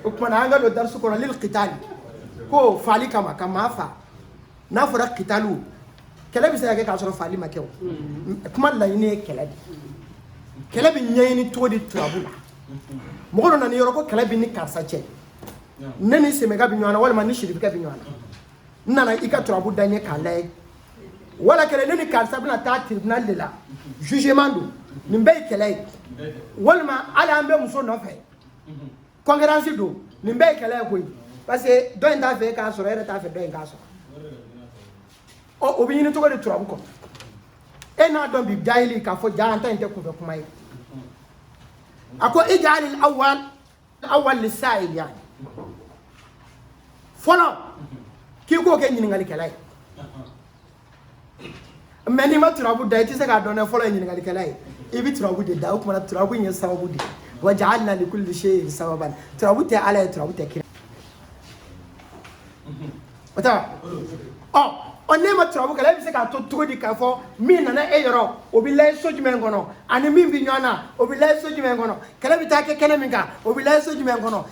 o tuma na an ka don darisu kɔnɔ lili kitali ko faali kama ka maa fa n'a fɔra kitali kɛlɛ bɛ se ka kɛ k'a sɔrɔ faali ma kɛ o kuma laɲini ye kɛlɛ de kɛlɛ bɛ ɲɛɲini cogo di turabu la mɔgɔ dɔ nana yɔrɔ ko kɛlɛ bɛ ni karisa cɛ ne ni sɛmɛka bɛ ɲɔgɔn na walima ni siribikɛ bɛ ɲɔgɔn na n nana i ka turabu da n ye k'a layɛ wala kɛlɛ ne ni karisa bɛna taa tribunal de la jugement don nin bɛɛ ye kɛlɛ ye walima hali an bɛ muso nɔfɛ concurrence don nin bɛɛ ye kɛlɛ ye koyi parce que dɔ in t'a fɛ e k'a sɔrɔ e yɛrɛ t'a fɛ dɔ in k'a sɔrɔ ɔ o bɛ ɲini cogo di turabu kɔ e n'a dɔn bi jahili k'a fɔ jaa an ta in tɛ kunfɛ kuma ye a ko ijali awal awal lisayili fɔlɔ k'i k'o kɛ ɲininkalikɛla ye mais n'i ma turabu da i tɛ se k'a dɔn dɛ fɔlɔ ye ɲininkalikɛla ye i bɛ turabu de da o tuma na turabu in ye sababu de ye wa jaalina likulli seyin sababan turabu tɛ ala ye turabu tɛ kira o tɛ wa ɔ ɔ n'e ma turabu kɛ e bɛ se k'a dɔn cogo di k'a fɔ min nana e yɔrɔ o bɛ layɛ so jumɛn kɔnɔ a ni min bɛ ɲɔgɔn na o bɛ layɛ so jumɛn kɔnɔ kɛlɛ bɛ taa kɛ kɛnɛ min kan o bɛ layɛ so jumɛn kɔnɔ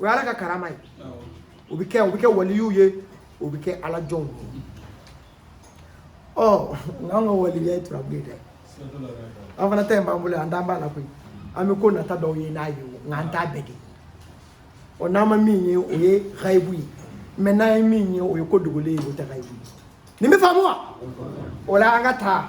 o y'ala ka karama ye o bɛ kɛ o bɛ kɛ waliyiw ye o bɛ kɛ ala jɔnw ye ɔ n'an ka waliya ye turabu ye dɛ an fana ta in b'an bolo an t'an b'a la koyi an bɛ ko nata dɔw ye n'a ye nka an t'a bɛɛ kɛ ɔ n'an ma min ye o ye gayibu ye mais n'an ye min ye o ye ko dogolen ye o tɛ gayibu ye nin bɛ faamu wa o la an ka taa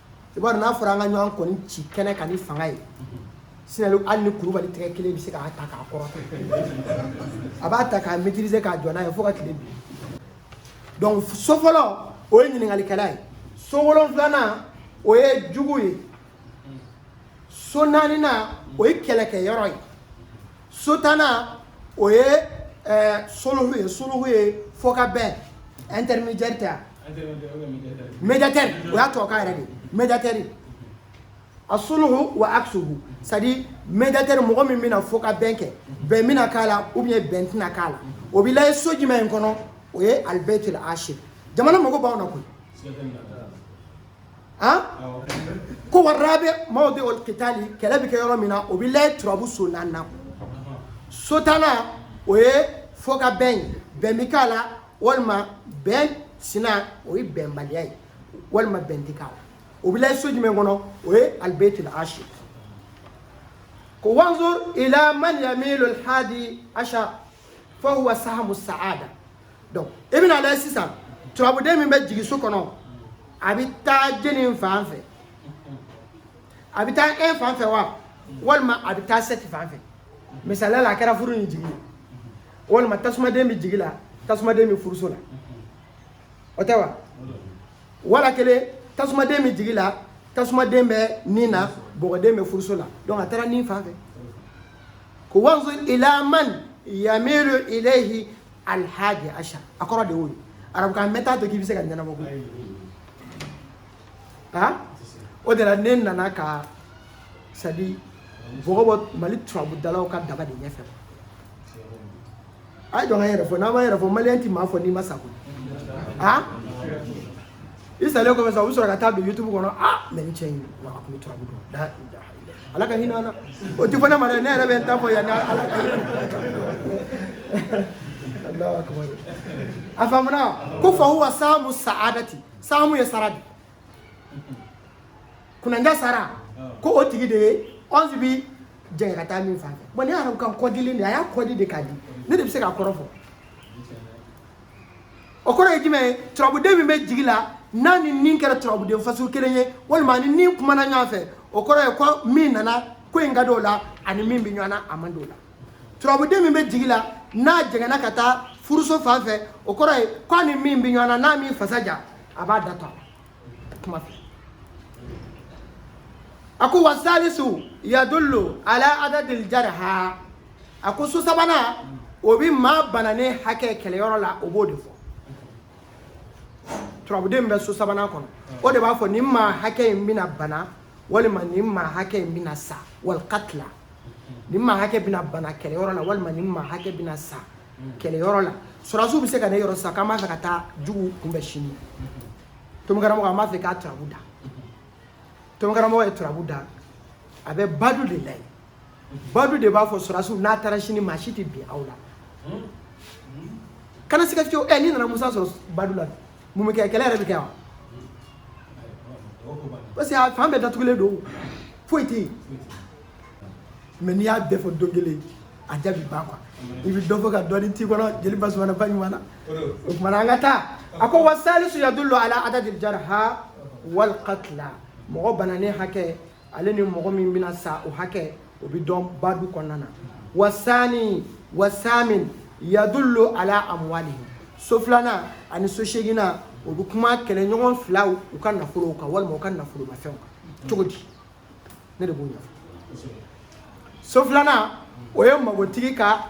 i b'a dɔn n'a fɔra an ka ɲɔgɔn kɔni ci kɛnɛ kan ni fanga ye sinalo hali ni kurubali tɛgɛ kelen bɛ se k'a ta k'a kɔrɔ a b'a ta k'a maîtriser k'a jɔ n'a ye fo ka tile bin donc so fɔlɔ o ye ɲininkalikɛla ye so wolonfilanan o ye jugu ye so naaninan o ye kɛlɛkɛyɔrɔ ye so tannan o ye eh, solohu ye solohu ye fɔ ka bɛn intermédiaire tɛ yan médiateur o y'a tubabukan yɛrɛ de médiateur a suluhu wa aksuhu c'est à dire médiateur mɔgɔ min bɛna fɔ ka bɛn kɛ bɛn bɛna k'a la ou bien bɛn tɛna k'a la o bɛ layɛ so jumɛn in kɔnɔ o ye alibɛtil ashir jamana mago b'anw na koyi han ko wa rabi mawdiul kitali kɛlɛ bɛ kɛ yɔrɔ min na o bɛ layɛ turabu so naani na so tannan o ye fɔ ka bɛn ye bɛn bɛ k'a la walima bɛn sina o ye bɛnbaliya ye walima bɛn tɛ k'a la o bɛ lajɛ so jumɛn kɔnɔ o ye alibeyiti la asi ko wanzur ila man yamilu alhadi asha fahuwa sahamu saada donc i bɛn'a lajɛ sisan turabuden min bɛ jigi so kɔnɔ a bɛ taa jɔni fan fɛ a bɛ taa e fan fɛ wa walima a bɛ taa sɛti fan fɛ misaliya la a kɛra furu ni jigi ye walima tasumaden bɛ jigi la tasumaden bɛ furuso la o tɛ wa wala kelen tasumaden bɛ jigi la tasumaden bɛ nin na bɔgɔden bɛ furuso la donc a taara nin fan fɛ ko wanzu ila man yamilu ilayhi alhaji asha a kɔrɔ de y'o ye arabukan mɛ t'a to k'i bɛ se k'a ɲɛnabɔ koyi ha o de la ne nana ka sadi bɔgɔ bɔ mali turabudalaw ka daba de ɲɛfɛ a y'a to an ka yɛrɛ fɔ n'an ma yɛrɛ fɔ maliyɛn ti maa fɔ n'i ma sa koyi ha i salen kɔfɛ sa u bɛ sɔrɔ ka taa don youtube kɔnɔ a mɛ ni cɛ in wa a tun bɛ turabu dɔn da da ala ka hinɛ an na o ti fɔ ne ma dɛ ne yɛrɛ bɛ n ta fɔ yan ala ka Allahu akbar a faamuna ko fa huwa samu sa'adati Samu ye sara de kunanja sara ko o tigi de ye ɔnsi bi jɛngɛ ka taa min fan fɛ bɔn arabu ka kɔdili de a y'a kɔdi de k'a di ne de bɛ se k'a kɔrɔ fɔ o kɔrɔ ye jumɛn ye turabuden min bɛ jigi la n'a ni nin kɛra turabuden fasɔn kelen ye walima ni nin kumana ɲɔgɔn fɛ o kɔrɔ ye ko min nana ko in ka di o la ani min bɛ ɲɔgɔn na a man di o la turabuden min bɛ jigi la n'a jɛngɛnna ka taa furuso fan fɛ o kɔrɔ ye k'a ni min bɛ ɲɔgɔn na n'a m'i fasa ja a b'a da duguma fɛ a ko wa salisu yadullu ala adadil jarha a ko so sabanan o bɛ maa bananen hakɛ kɛlɛyɔrɔ la o b'o de fɔ turabuden bɛ so sabanan kɔnɔ o de b'a fɔ nin maa hakɛ in bɛna bana walima nin maa hakɛ in bɛna sa walikatila ni maa hakɛ bɛna bana kɛlɛyɔrɔ la walima ni maa hakɛ bɛna sa kɛlɛyɔrɔ la sɔrɔdasiw bɛ se ka na e yɔrɔ sa k'an b'a fɛ ka taa juguw kunbɛn sini tomokaramɔgɔ an b'a fɛ k'a turabu da tomokaramɔgɔ ye turabu da a bɛ badu de la yen badu de b'a fɔ sɔrɔdasiw n'a taara sini maa si tɛ bin aw la kana siga fiyewu ɛ n'i nana musa sɔrɔ badu la mun bɛ kɛ kɛlɛ yɛrɛ bɛ kɛ wa parce que a fan bɛɛ datugulen don foyi tɛ yen mɛ n'i y'a bɛɛ fɔ don kelen a jaabi ban kuwa i bɛ dɔ fɔ ka dɔɔni t'i kɔnɔ jeli basumana ba ɲuman na o tumana an ka taa a ko wa salisu yadullu ala adadi jarha wal qatla mɔgɔ bananen hakɛ ale ni mɔgɔ min bɛna sa o hakɛ o bɛ dɔn badu kɔnɔna na wa sani wa samin yadullu ala amwalihim so filanan ani so seeginan o bɛ kuma kɛlɛɲɔgɔn filaw u ka nafolow kan walima u ka nafolomafɛnw kan cogo di ne de b'o ɲɛfɔ so filanan o ye magotigi ka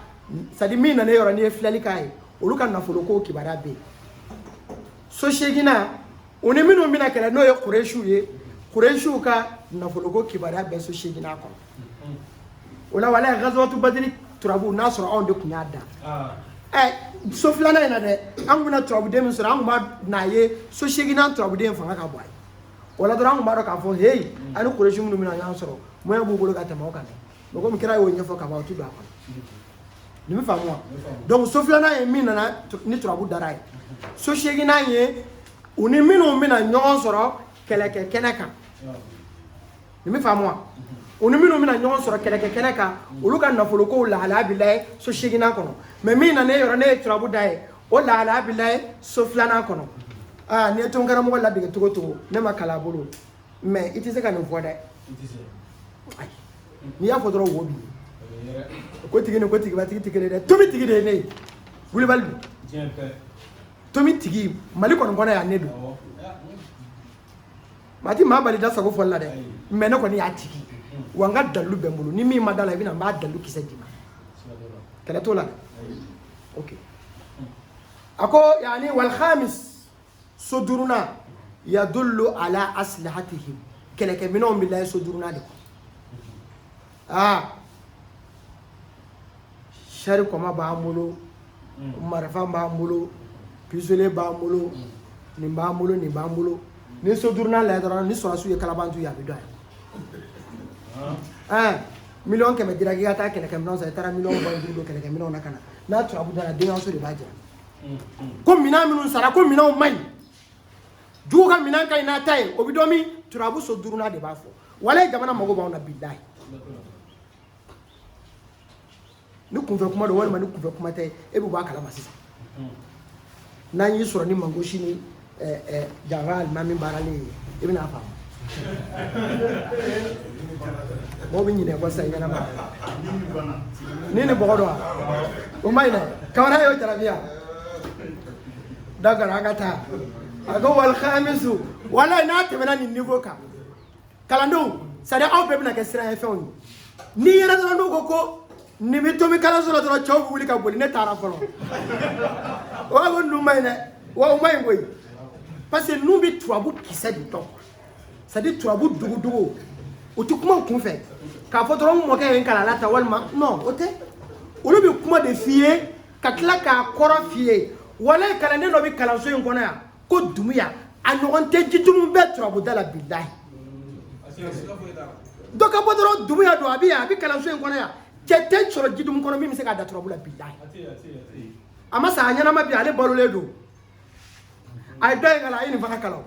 sadi min nana yɔrɔ n'i ye filɛli k'a ye olu ka nafolo ko kibaruya bɛ yen so seeginnan u ni minnu bɛna kɛlɛ n'o ye kuresiw ye kuresiw ka nafolo ko kibaruya bɛ so seeginnan kɔnɔ o la wala gazawatu badiri turabu n'a sɔrɔ anw de tun y'a da ah. ɛ so filanan in na dɛ an tun bɛna turabuden min sɔrɔ an tun bɛn'a ye so seeginnan turabuden fanga ka bon a ye o la dɔrɔn an tun b'a dɔn k'a fɔ heyi mm. ani kuresi minnu bɛna ɲɔgɔn sɔrɔ moyen b'u bolo ka tɛmɛ o kan dɛ mɛ komi kira y'o ɲɛfɔ ka ban o ti don a kɔnɔ nin bɛ faamu wa donc so filanan ye min nana ni turabu dara a ye so seeginan ye u ni minnu bɛna ɲɔgɔn sɔrɔ kɛlɛkɛ kɛnɛ kan nin bɛ faamu wa u ni minnu bɛna ɲɔgɔn sɔrɔ kɛlɛkɛ kɛnɛ kan olu ka nafolokow lahalaya bɛ layɛ so seginnan kɔnɔ mɛ min na ne yɔrɔ ne ye turabu d'a ye o lahalaya bɛ layɛ so filanan kɔnɔ aa n'i ye tonkaramɔgɔ ladege cogo o cogo n'i ma kalan a bolo mɛ i tɛ se ka nin fɔ dɛ ayi n'i y'a fɔ dɔrɔn wo b'i ye ko tigi ni ko tigibatigi tɛ kelen ye dɛ tomi tigi de ye ne ye wulibali don tomi tigi mali kɔni kɔnɔ yan ne don maa ti maa bali da sago fɔli la dɛ mɛ ne kɔni y'a tigi wa n ka dalilu bɛ n bolo ni min ma d'a la i bɛ na n b'a dalilu kisɛ d'i ma kɛlɛ t'o la dɛ ok a ko yani walhamis so duurunan yadullu ala aslahatihim kɛlɛkɛminɛnw bɛ layɛ so duurunan de kɔnɔ aa sari kɔmba b'an bolo marifa b'an bolo pisitole b'an bolo nin b'an bolo nin b'an bolo n'i so duurunan lajɛ dɔrɔn ni sɔrɔdasiw ye kalabanciw ye a bɛ dɔn yan miliyɔn kɛmɛ dira k'i ka taa kɛlɛkɛminɛnw san i taara miliyɔn mugan duuru don kɛlɛkɛminɛnw na ka na n'a turabu dara denkɛso de b'a jira ko minɛn minnu sanna ko minɛnw man ɲi jugu ka minɛn ka ɲi n'a ta ye o bɛ dɔn min turabu so duurunan de b'a fɔ walayi jamana mago b'anw na bilayi ni kunfɛ kuma don walima ni kunfɛ kuma tɛ e bɛ bɔ a kalama sisan n'an y'i sɔrɔ ni mangosi ni eh, eh, janfa alimami baaralen ye i bɛna a faamu mɔgɔw bɛ ɲinɛ kɔ sisan i ɲɛnama ni ni bɔgɔ don wa o ma ɲinɛ kamana y'o jarabi yan da gara ka taa a ko walhamisu wala n'a tɛmɛna nin niveau kan kalandenw sari aw bɛɛ bɛna kɛ siranya fɛnw ye n'i yɛrɛ dɔrɔn n'u ko ko nin bɛ tomi kalanso la dɔrɔn cɛw bɛ wuli ka boli ne taara fɔlɔ o b'a ko ninnu man ɲi dɛ wa o man ɲi koyi parce que ninnu bɛ turabu kisɛ de dɔn c'est à dire turabu dugudugu o tɛ kuma u kun fɛ k'a fɔ dɔrɔn n mɔkɛ ye n kalan a la tan walima non o tɛ olu bɛ kuma de f'i ye ka tila k'a kɔrɔ f'i ye walayi kalanden dɔ bɛ kalanso in kɔnɔ yan ko dumuya a ɲɔgɔn tɛ jitumu bɛɛ turabuda la bilahi dɔ ka bɔ dɔrɔn dumuya don a bɛ yan a bɛ kalanso in kɔnɔ yan cɛ tɛ sɔrɔ jitumu kɔnɔ min bɛ se k'a da turabu la bilahi a ma sa a ɲɛnama bi ale balolen don a ye dɔ in kalan a ye nin fana kalan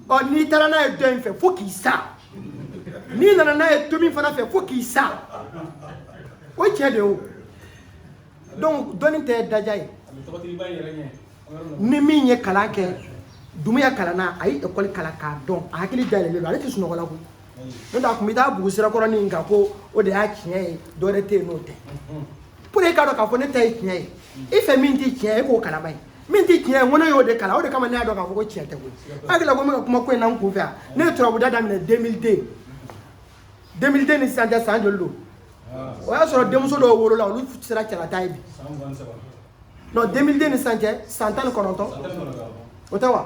ɔ n'i taara n'a ye dɔ in fɛ fo k'i sa n'i nana n'a ye tomi fana fɛ fo k'i sa o cɛ de o donc dɔnni tɛ daja ye ni min ye kalan kɛ dumuya kalanna a ye ekɔli kalan k'a dɔn a hakili dayɛlɛlen don ale tɛ sunɔgɔ la koyi n'o tɛ a tun bɛ taa bugu sirakɔrɔnin kan ko o de y'a tiɲɛ ye dɔwɛrɛ tɛ yen n'o tɛ pour que e k'a dɔn k'a fɔ ne ta ye tiɲɛ ye i fɛn min tɛ tiɲɛ ye e k'o kalan a ye min tɛ tiɲɛ ye n ko ne y'o de kalan o de kama ne y'a dɔn k'a fɔ ko tiɲɛ tɛ koyi i hakili la ko n bɛ ka kuma ko in na n kun fɛ yan ne ye turabuda daminɛ 2002 2002 ni sisan cɛ san joli don o y'a sɔrɔ denmuso dɔw wolola olu sera cɛlataa ye bi non 2002 ni sisan cɛ san tan ni kɔnɔntɔn o tɛ wa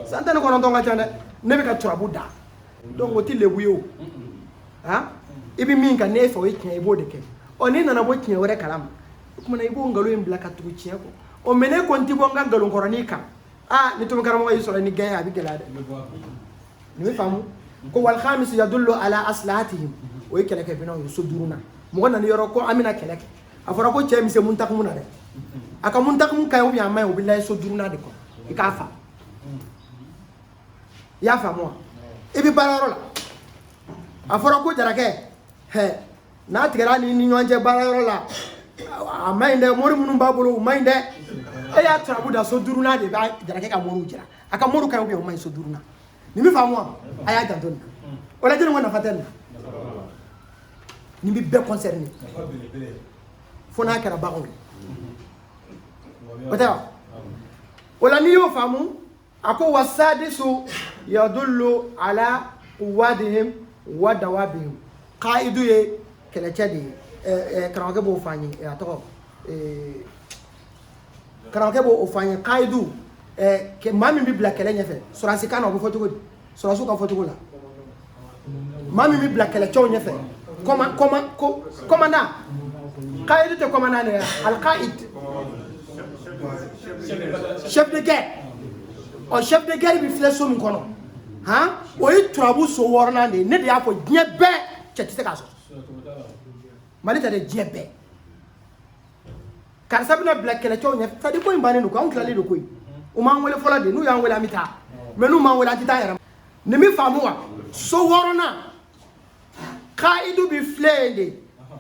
san tan ni kɔnɔntɔn ka ca dɛ ne bɛ ka turabu da donc o tɛ lebu ye o han i bɛ min kan n'e fɛ o ye tiɲɛ i b'o de kɛ ɔ n'i nana bɔ tiɲɛ wɛrɛ kalama o tuma na i b'o nkalon in bila ka tugu tiɲɛ kɔ o mais ne kɔni tɛ bɔ n ka nkalonkɔrɔnin kan aa ni tomi karamɔgɔ y'i sɔrɔ ni gɛn ye a bɛ gɛlɛya dɛ nin bɛ faamu ko walhamisi yadullu ala aslahatihim o ye kɛlɛkɛminɛnw ye so duurunan mɔgɔ nana yɔrɔ ko an bɛna kɛlɛ kɛ a fɔra ko cɛ mise mun takumu na dɛ a ka mun takumu ka ɲi ou bien a man ɲi o bɛ lajɛ so duurunan de kɔnɔ i k'a fa i y'a faamu wa i bɛ baarayɔrɔ la a fɔra ko jarakɛ hɛ n'a tigɛra nin ni ɲɔgɔn cɛ baarayɔrɔ la a man ɲi dɛ mori minnu b'a bolo u man ɲi dɛ e ye turabu da so duurunan de bɛ jarakɛ ka moriw jira a ka moriw ka ɲi o man ɲi so duurunan nin bɛ faamu wa a y'a janto nin na o la jɔnni ko nafa tɛ nin na nin bɛ bɛɛ concerner fo n'a kɛra baganw ye o tɛ wa o la n'i y'o faamu a ko wassadisu yadullu ala quwadihim wa dawabihim qaidu ye kɛlɛcɛ de ye eh, eh, karamɔgɔkɛ b'o fɔ an ye eh, a tɔgɔ eh, karamɔgɔkɛ b'o o fɔ an ye qaidu eh, ke- maa min bɛ bila kɛlɛ ɲɛfɛ sɔrɔdasikan na o bɛ fɔ cogo di sɔrɔdasiw ka fɔcogo la maa min bɛ bila kɛlɛcɛw ɲɛfɛ kɔmandan kayidi tɛ kɔmandan de ye alikaid chef de guerre ɔ chef de guerre bɛ filɛ so min kɔnɔ han o ye turabu so wɔɔrɔnan de ye ne de y'a fɔ diɲɛ bɛɛ cɛ tɛ se k'a sɔsɔ mali tɛ dɛ diɲɛ bɛɛ karisa bɛna bila kɛlɛcɛw ɲɛ sadi ko in bannen don koyi anw tilalen don koyi u m'an wele fɔlɔ de n'u y'an wele an bɛ taa mɛ n'u m'an wele an tɛ taa yɛrɛ nin bɛ faamu wa so wɔɔrɔnan kayidu bɛ filɛ yen de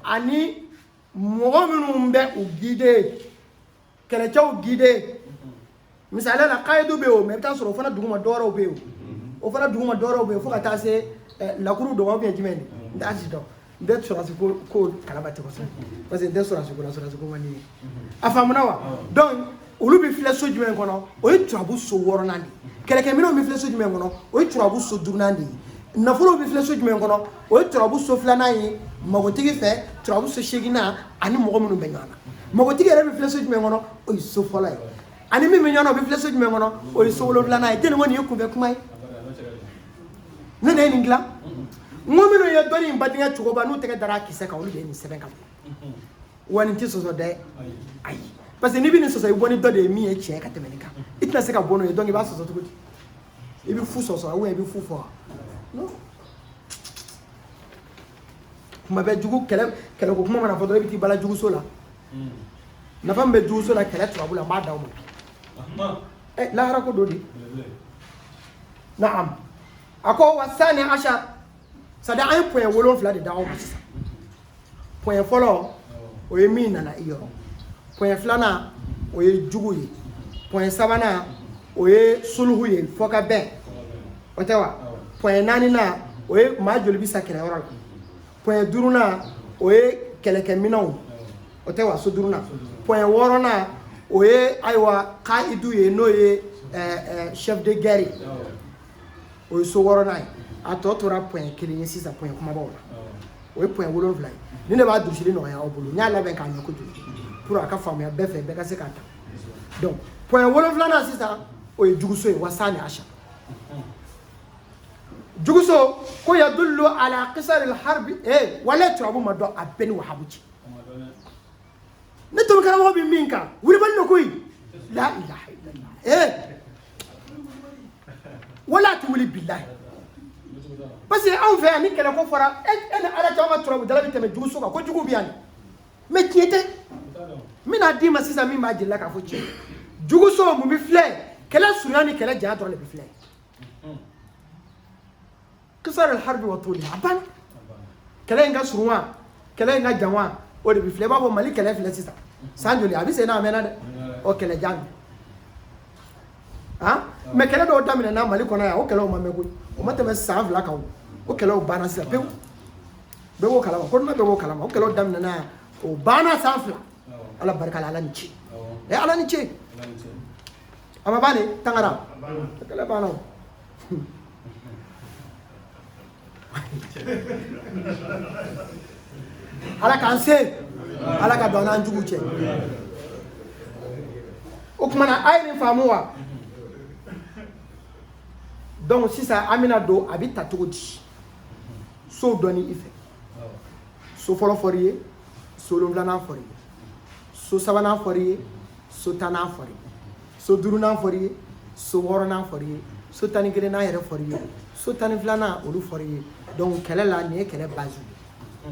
ani mɔgɔ minnu bɛ u gide kɛlɛcɛw gide misaliya la kayidu bɛ yen o mɛ i bɛ t'a sɔrɔ o fana duguma dɔwɛrɛw bɛ yen o o fana duguma dɔwɛrɛw bɛ yen fo ka taa se eh, lakuru dɔgɔ bɛ jumɛn de n t'a si dɔn n tɛ sɔrɔsi ko ko kalama ten kosɛbɛ parce que n tɛ sɔrɔsi ko la sɔrɔsi ko man di n ye a faamuna wa donc olu bɛ filɛ so jumɛn kɔnɔ o ye turabu so wɔɔrɔnan de ye kɛlɛkɛminɛnw bɛ filɛ so jumɛn kɔnɔ o ye turabu so duurunan de ye nafolow bɛ filɛ so jumɛn kɔnɔ o ye turabu so filanan ye magotigi fɛ turabu so seeginan ani mɔgɔ minnu bɛ ɲɔgɔn na magotigi yɛrɛ bɛ filɛ so jumɛn kɔnɔ o ye so fɔlɔ ye ani min bɛ ɲɔgɔn na o bɛ filɛ so jumɛn kɔnɔ o ye so wolonwulanan ye tɛnɛmɔ nin ye kunfɛ kuma ye ne de ye nin dilan n ko minnu ye dɔnni in badenkɛ cogoba n'u tɛgɛ dara a kisɛ kan olu de ye nin sɛbɛn ka bɔ wa nin tɛ sɔsɔ dɛ ayi parce que n'i bɛ nin sɔsɔ i bɔ ni dɔ de ye min ye tiɲɛ ye ka tɛmɛ nin kan i tɛna se ka bɔ n'o ye donc i b'a sɔsɔ cogo di i bɛ fu sɔsɔ ou bien i bɛ fu fɔ non kuma bɛɛ jugu kɛlɛ kɛlɛko kuma mana fɔ dɔrɔn i bɛ t'i bala juguso la nafa min bɛ juguso la kɛlɛ turabu la n b'a d'aw ma ɛ lahara ko don de naam a ko wa sani asa sadi an ye pɔyɛ wolonfila de d'aw ma sisan pɔyɛ fɔlɔ o ye min nana i yɔrɔ pɔyɛ filanan o ye jugu ye pɔyɛ sabanan o ye suluhu ye fɔkabɛn o tɛ wa pɔyɛ naaninan o ye maa joli bi sa kɛlɛyɔrɔ la pɔɲɛ duurunan o ye kɛlɛkɛminɛnw o tɛ wa so duurunan pɔɲɛ wɔɔrɔnan o ye ayiwa kayidu ye n'o ye chef de guerre ye o ye so wɔɔrɔnan ye a tɔ tora pɔɲɛ kelen ye sisan pɔɲɛ kumabaw la o ye pɔɲɛ wolonwula ye ni ne b'a durusili nɔgɔya aw bolo n y'a labɛn k'a ɲɛ kojugu pour a ka faamuya bɛɛ fɛ bɛɛ ka se k'a ta donc pɔɲɛ wolonwulanan sisan o ye juguso ye wa sani asa juguso ko yadullu ala kisari harbi eh wala turabu ma dɔn a bɛɛ ni wahabu cɛ ne tobi karamɔgɔ bɛ min kan wulibali lo koyi la ilaha illallah eh wala a ti wuli bilahi parce que anw fɛ yan ni kɛlɛ ko fɔra e e ni ala caman ka turabudala bɛ tɛmɛ juguso kan ko jugu bɛ yan mɛ tiɲɛ tɛ n bɛna d'i ma sisan min b'a jira k'a fɔ tiɲɛ juguso mun bɛ filɛ kɛlɛ surunya ni kɛlɛ janya dɔrɔn de bɛ filɛ kisar alharbi wa toli a ban kɛlɛ in ka surun wa kɛlɛ in ka jan wa o de bɛ filɛ i b'a fɔ mali kɛlɛ filɛ sisan san joli a bɛ sen na a mɛnna dɛ o kɛlɛ jan han mɛ kɛlɛ dɔw daminɛna mali kɔnɔ yan o kɛlɛw ma mɛn koyi o ma tɛmɛ san fila kan o o kɛlɛw banna sisan pewu bɛɛ b'o kalama kɔnɔna bɛɛ b'o kalama o kɛlɛw daminɛna yan o banna san fila ala barika la ala ni ce ɛ ala ni ce a ma ban dɛ tangara a kɛlɛ banna o ala k'an se ala ka don an n'an jugu cɛ o kumana a ye nin faamu wa donc sisan an bɛna don a bɛ ta cogo di sow dɔnni i fɛ so fɔlɔ fɔr'i ye so wolonwulanan fɔr'i ye so sabanan fɔr'i ye so tannan fɔr'i ye so duurunan fɔr'i ye so wɔɔrɔnan fɔr'i ye so tan ni kelennan yɛrɛ fɔr'i ye so tan ni filanan olu fɔr'i ye donc kɛlɛ la nin ye kɛlɛ base ye